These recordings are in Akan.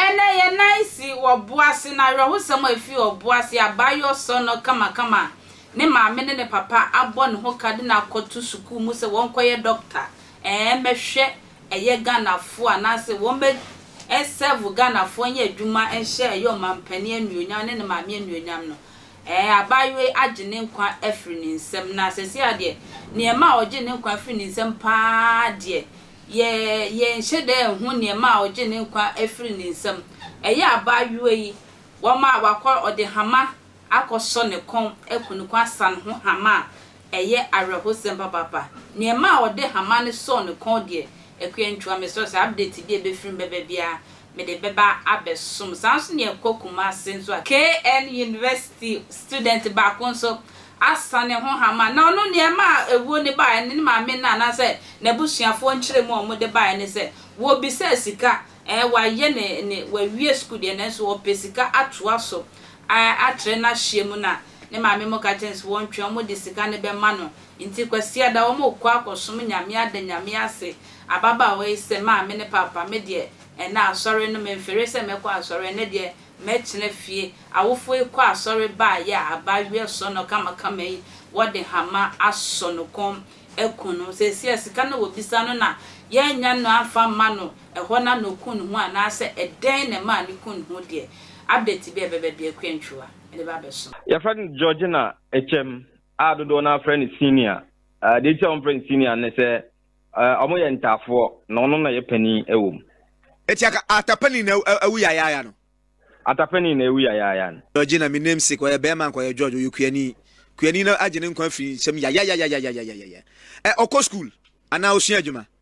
Ɛnnɛ, yɛn nan si ɔbo ase, na awerɛhosɛm a efi ɔbo ase a abaayewa sɔ no kamakama a ne maame ne ne papa abɔ ne ho ka de no akɔto sukuu mu sɛ ɔnkɔyɛ dɔkta, ɛɛ, mmɛhwɛ ɛyɛ Ghanafoɔ anaase wɔn bɛ serve Ghanafoɔ nyɛ adwuma nhyɛ ɛyɛ ɔmanpanin anuonyam ne ne maame anuonyam no, ɛɛ abaayewa yi agye ne nkwa afiri ne nsam na sɛsei ara deɛ nneɛma a ɔgye ne nkwa afiri ne nsam pa ara deɛ yɛ yɛnhyɛ da nhu nneɛma a ɔgye ne nkwa afiri ne nsam, ɛyɛ abaayewa yi wɔn a wakɔ ɔde hama akɔsɔ ne kɔn aku no kɔn asan ho hama a ɛyɛ awerɛhosɛm papaapa. Nea ɛma a wɔde hama no sɔɔ ne kɔn deɛ, akua ntua. Mesrɛ sɛ update bi a ɛbɛfiri mu bɛba biara, mede bɛba abɛsom. Saa ara nso na yɛkɔ Kumasi nso a, KN University student baako nso asan ne ho hama. Na ɔno nea ɛma a awuo no baeɛ no, ne maame no anaasɛ n'abusuafoɔ nkyerɛmu a wɔde baeɛ ne sɛ, wɔbisaa sika, ɛɛ, wayɛ ne, ne, wawie sukuu deɛ nanso ɔpɛ sika atoa so a akyerɛ n'ahyia mu na ne maame mo ka kyerɛ no sɛ wɔntwɛn wɔn de sika no bɛma no nti kwasiada wɔn rekɔ akɔsom nyame ada nyame ase ababaawa yi sɛ maame ne paapa me deɛ ɛnɛ asɔre no memfere sɛ mɛkɔ asɔre ɛnɛ deɛ mɛtena fie awofoɔ yi kɔ asɔre baayɛ a abaayewa sɔ no kamakama yi wɔde hama asɔ no kɔn akum no seesei a sika no a wɔbisa no na yɛannya no amfa amma no ɛhɔ na no ku ne ho anaasɛ ɛdɛn na ɛmaa no ku ne ho deɛ, update bi a ɛbɛba biara Kua Ntwiwa de ba abɛso. Yɛfrɛ no Georgina Akyɛm a dodoɔ no ara frɛ no Senior. Deɛ nti a wɔfrɛ no Senior ne sɛ wɔyɛ ntaafoɔ na ɔno na yɛ panin wɔ mu. Eti aka ata panin na awu yayaaya no. Ata panin na awu yayaaya no. Georgina me namesake ɔyɛ bɛɛma anka ɔyɛ George ɔyɛ kuani kuani no agye ne nkwa firi nsam yayayayayayayayayaya ɛ ɔkɔ school anaa ɔsua adwuma.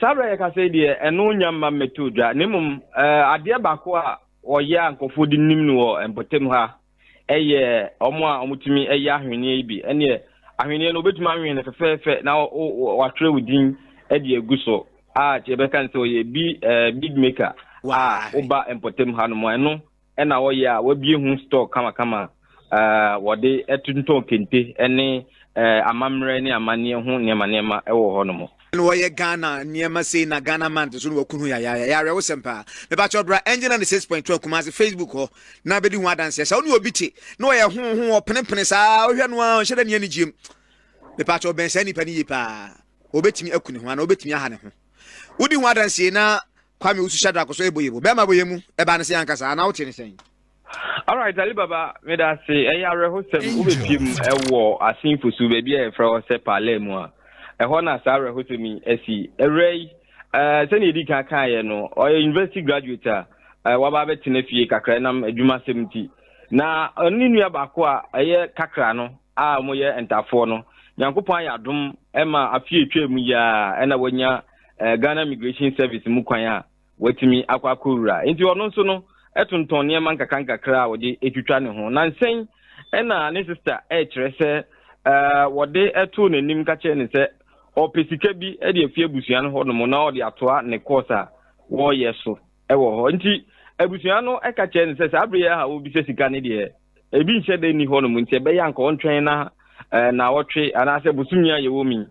Saa berɛ a yɛkasa yi deɛ, ɛno nya mma mmɛtoo dwa, na mmom adeɛ baako a wɔyɛ a nkurɔfoɔ de nim no wɔ mpɔtam ha yɛ wɔn a wɔtumi yɛ ahweneɛ yi bi. Ɛneɛ ahweneɛ no wobɛtumi anwene no fɛfɛɛfɛ na wɔatwerɛ wo din de agu so a kyɛ yɛbɛka no sɛ ɔyɛ bi bead maker a woba mpɔtam ha no mu ɛno ɛna wɔyɛ a wɔabie ho store kamakama a wɔde tontɔn kente ne amammerɛ ne amanneɛ ho nneɛma nneɛma wɔ hɔ nom. na wɔyɛ Ghana nneɛma sei na Ghana man nso na wɔku ho yayaaya ɛyɛ awerɛhosɛm paa mepakyɛ ɔbra ɛngye na ne 6.2 Kumasi Facebook hɔ na bɛdi ho adanseɛ sɛ wo ne obi te na ɔyɛ ho ho ɔpenepene saa wohwɛ no a ɔnhyɛ dɛ ne ani gyiem mepakyɛ ɔbɛn saa nipa no yie paa ɔbɛtumi aku ne ho anaa ɔbɛtumi aha ne ho Wodi ho adansie na Kwame Usu Shadrack so ɛbɔ yɛbu. Bɛrima bɔ yɛmu ɛbaa ne sɛ ankasa anaa wote ne sɛn? Alright Ali Baba, meda ase. Ɛyɛ awerɛhosɛm wobɛpie mu ɛwɔ Asenfosu baabi a yɛfrɛ hɔ sɛ Paalaa mu a ɛhɔ na saa awerɛhosɛm yi asi. Awura yi, eh, sɛnea ɛdi kan kaeɛ no, ɔyɛ university graduate a eh, waba abɛtena fie kakra nam adwumasɛm nti. Na ɔne nua baako a ɛyɛ kakra no a wɔyɛ ntafoɔ no nyankopɔn ayɛ adom ma afei atwa mu yi a ɛna wanya eh, ghana immigration service mu kwan a watumi akɔ akɔwura nti ɔno nso no ɛtontɔn nneɛma nkakrankakra a wɔde ɛtwitwa ne ho nansɛn ɛna ne sista ɛkyerɛ sɛ eh, wɔde ɛtoo n'anim ka kyerɛ ne sɛ ɔpɛ sika bi de afi abusua no hɔ nom na ɔde atoa ne kɔɔs a wɔreyɛ so wɔ hɔ nti abusua no ɛka kyerɛ no sɛ saa bere yɛ a wobisa sika no deɛ ebi nhyɛ da nni hɔ nom nti ɛbɛyɛ anka ɔntwɛn na eh, na ɔtwe anaasɛ bosomi a yɛwɔ mi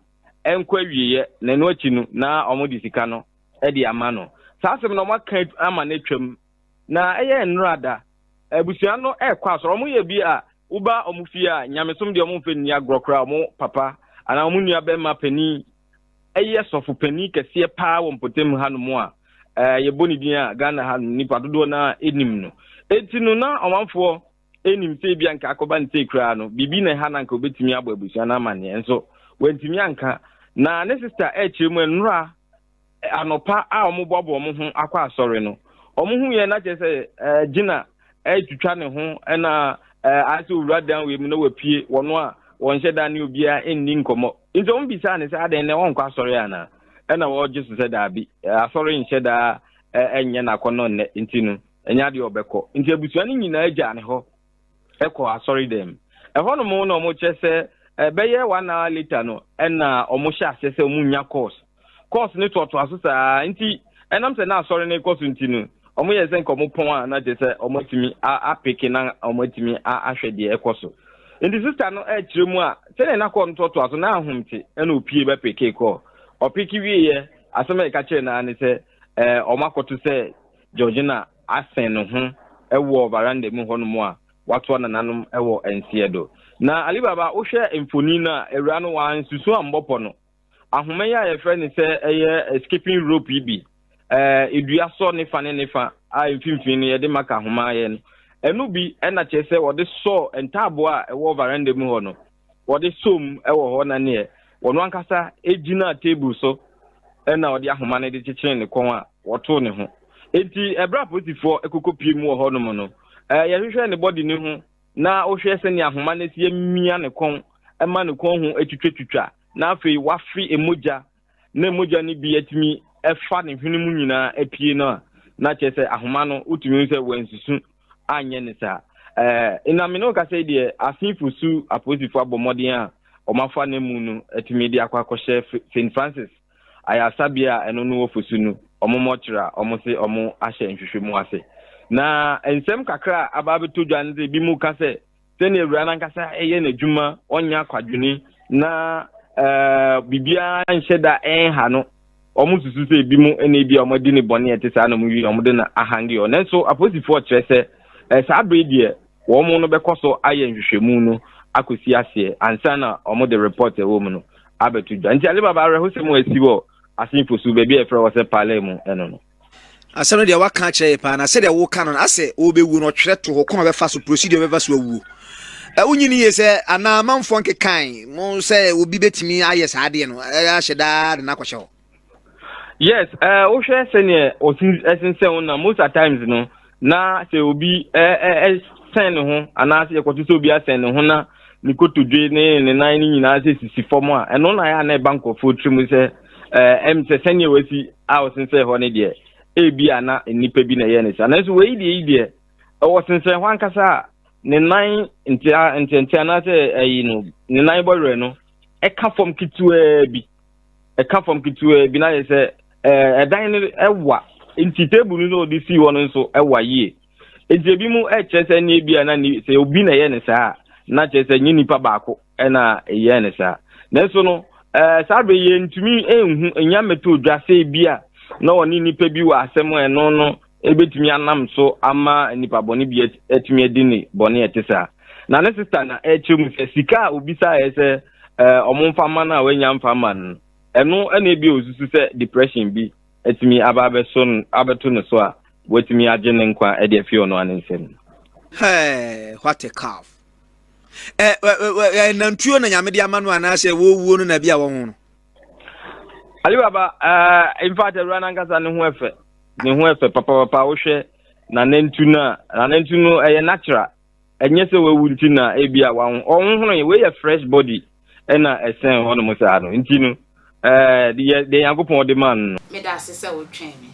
ɛnkɔ awieɛ na ɛno akyi no na wɔde sika no de ama no saa asɛm no wɔaka ama no atwam na ɛyɛ nnora da abusua no ɛrekɔ asɔrɔ wɔn yɛ bi a woba wɔn fie a nyamesom deɛ wɔn mfɛ nni agorɔ koraa wɔn papa anaa wɔn nua bɛrima panin ɛyɛ sɔfo panin kɛseɛ paa wɔ mpɔtam hanom a eh, yɛbɔ ne din a Ghana ha nnipa dodoɔ no a ɛnim no. Enti no na ɔmanfoɔ ɛnim sɛ ebia nka akɔba ne sei koraa no, biribi na ɛha na nka ɔbɛtumi abɔ abusua no amanneɛ nso wantumi anka. Na ne sista ɛkyerɛ mu nnora eh, anɔpa a wɔboaboa wɔn ho akɔ asɔre no, wɔn ho yɛ na kyerɛ sɛ eh, gyina retwitwa ne ho na ayɛ sɛ owura dan wei mu na wapue wɔn a wɔnhyɛ da ne obiara nni nkɔmmɔ nti wɔn bisaa ne sɛ adɛn na wɔnkɔ asɔre anaa ɛna wɔgye so sɛ daabi asɔre nhyɛ daa ɛnyɛ n'akɔnɔ nnɛ nti no ɛnyɛ adeɛ ɔbɛkɔ nti abusua no nyinaa gyaa ne hɔ ɛkɔ asɔre dɛm ɛhɔnom na wɔkyerɛ sɛ ɛbɛyɛ one hour later no ɛna wɔhyɛ aseɛ sɛ wɔnya course kɔɔso no toatoa so saa nti ɛnam sɛ na asɔre no kɔ so nti no wɔn yɛ sɛ nka wɔn pɔn a na kyerɛ sɛ wɔn atumi apeke na wɔn atumi ahwɛ deɛ ɛkɔ so nti sista no ɛkyerɛ mu a sɛdeɛ na kɔɔ no toatoa so na ahom te ɛna opie bɛ peke kɔɔ ɔpeke wieɛ asɛm a ɛka kyerɛ naa ne sɛ ɛɛ wɔn akɔto sɛ georgina asɛn ne ho ɛwɔ varanda mu hɔnom a watoa nananom ɛwɔ nseɛ do na alibaba wohwɛ mfoni no a awura no wɔansusu ambɔpɔ no ahoma yi a yɛfrɛ no sɛ ɛyɛ eh, skipping rope yi bi eh, edua sɔ ne fa ne ne fa a mfimfini no yɛde maka ahoma yɛ no ɛno bi ɛna kyerɛ sɛ wɔde sɔ ntaaboɔ a ɛwɔ varanda mu hɔ no wɔde sɔ mu ɛwɔ hɔ na neɛ wɔn ankasa gyina table so ɛna wɔde ahoma no de kyekyere ne kɔn a wɔtoo ne ho eti ɛbrɛ apolisifoɔ ɛkoko pie mu wɔ hɔ nom no ɛɛ yɛhwehwɛ ne bɔdi ne ho na wohwɛ sɛnea ahoma no si amia ne kɔn ɛma ne kɔn ho atwitwatwitwa na afei wafe mogya na mogya no bi atumi ɛfa ne hwene mu nyinaa apue no a na kyerɛ sɛ ahoma no wotumi hu sɛ wansusu anyɛ ne saa ɛɛ na mene ɔkasa yi deɛ asefo su apolisifo abɔ mmɔden a wɔafa no mu no atumi de akɔ akɔhyɛ st francis ayasabea a ɛno no wɔ fosu no wɔn mmɔkyerɛ a wɔn se wɔn ahyɛ nhwehwɛ mu ase na nsɛm kakra a aba abɛtɔ dwa no sɛ bi mu ka sɛ sɛnea awura no ankasa yɛ n'adwuma ɔnyɛ akwadwene na eh, biribiara nhyɛ da ɛnha no wɔn susu sɛ ebi mu na ebi a wɔn adi ne bɔne ɛte saa na wɔn wi wɔn de na ahange wɔn nanso aposifoɔ kyerɛ sɛ eh, saa bere deɛ wɔn no bɛkɔ so ayɛ nhwehwɛmu no akɔsi aseɛ ansa na wɔn de report ɛwɔ mu no abɛto dwa nti alibaba awerɛhosɛm a asi wɔ asenfo so baabi a yɛfrɛ wɔ sɛ pale mu ɛno no Asɛm no deɛ waka akyerɛ yɛ paa na sɛdeɛ woka no asɛ wobɛwuo no ɔtwerɛ to hɔ kwan ɔbɛfa so procedure ɔbɛfa so awuo wonyini yie sɛ anaa amanfoɔ nkekan mo sɛ obi bɛtumi ayɛ saa adeɛ no ahyɛ daa de no akɔhyɛ hɔ yes wohwɛ sɛneɛ ɔsensɛn wo na most at times no na sɛ obi sɛn ne ho anaasɛ yɛkɔto sɛ obi asɛn ne ho na ne kotodwe ne ne nan no nyinaa sɛ sisi fam a ɛno na yɛ a na ɛba nkurɔfoɔ tirim sɛ ɛm sɛ sɛnea wasi a ɔsensɛn hɔ ne deɛ ebi a na nnipa bi na ɛyɛ ne saa nanso wei deɛ yi deɛ ɛwɔ sensɛn hɔ ankasa a ne nan ntia ntiantia anaasɛ ayi no ne nan bɔwerɛ no ɛka fam ketewaa bi ɛka fam ketewaa bi na yɛ sɛ ɛdan no ɛwa nti table no sɛ ɔde sii hɔ no nso ɛwa yie nti ebi mu ɛkyerɛ sɛ ne ebi a na ni sɛ obi na ɛyɛ ne saa na kyerɛ sɛ nye nipa baako ɛna ɛyɛ ne saa nanso no ɛɛ saa bɛ yɛ ntumi ɛnhu enya mɛtɔ dwa sɛ ebi a na ɔne nipa bi wɔ asɛm ɛno no. ebetumi anam so ama nipa bɔne bi atumi adi ne bɔne a ɛte saa na ne sista na ɛkyerɛ mu sɛ sika a obisaeɛ sɛ wɔn mfa ma no a wanya mfa ma no ɛno ɛna ebi a osusu sɛ depression bi atumi aba abɛso abɛto ne so a watumi agye ne nkwa ɛde afi ɔno ano nsam. Hey, what a calf! Ɛ ɛ ɛ nantwie na nyame de ama no anaasɛ wɔwuo no na bi a wɔn ho no. Ali Baba, uh, in fact, awura nankasa ne ho ɛfɛ. Ne ho ɛfɛ papapapa wohwɛ na nantu no a, na nantu no ɛyɛ natural. Ɛnyɛ sɛ wawu nti na ebi a wɔn wɔn hono wei yɛ fresh body ɛna ɛsɛn hɔ nom saa no nti no ɛɛ deɛ deɛ yankopɔn de maa no. Meda ase sɛ wotwɛn me.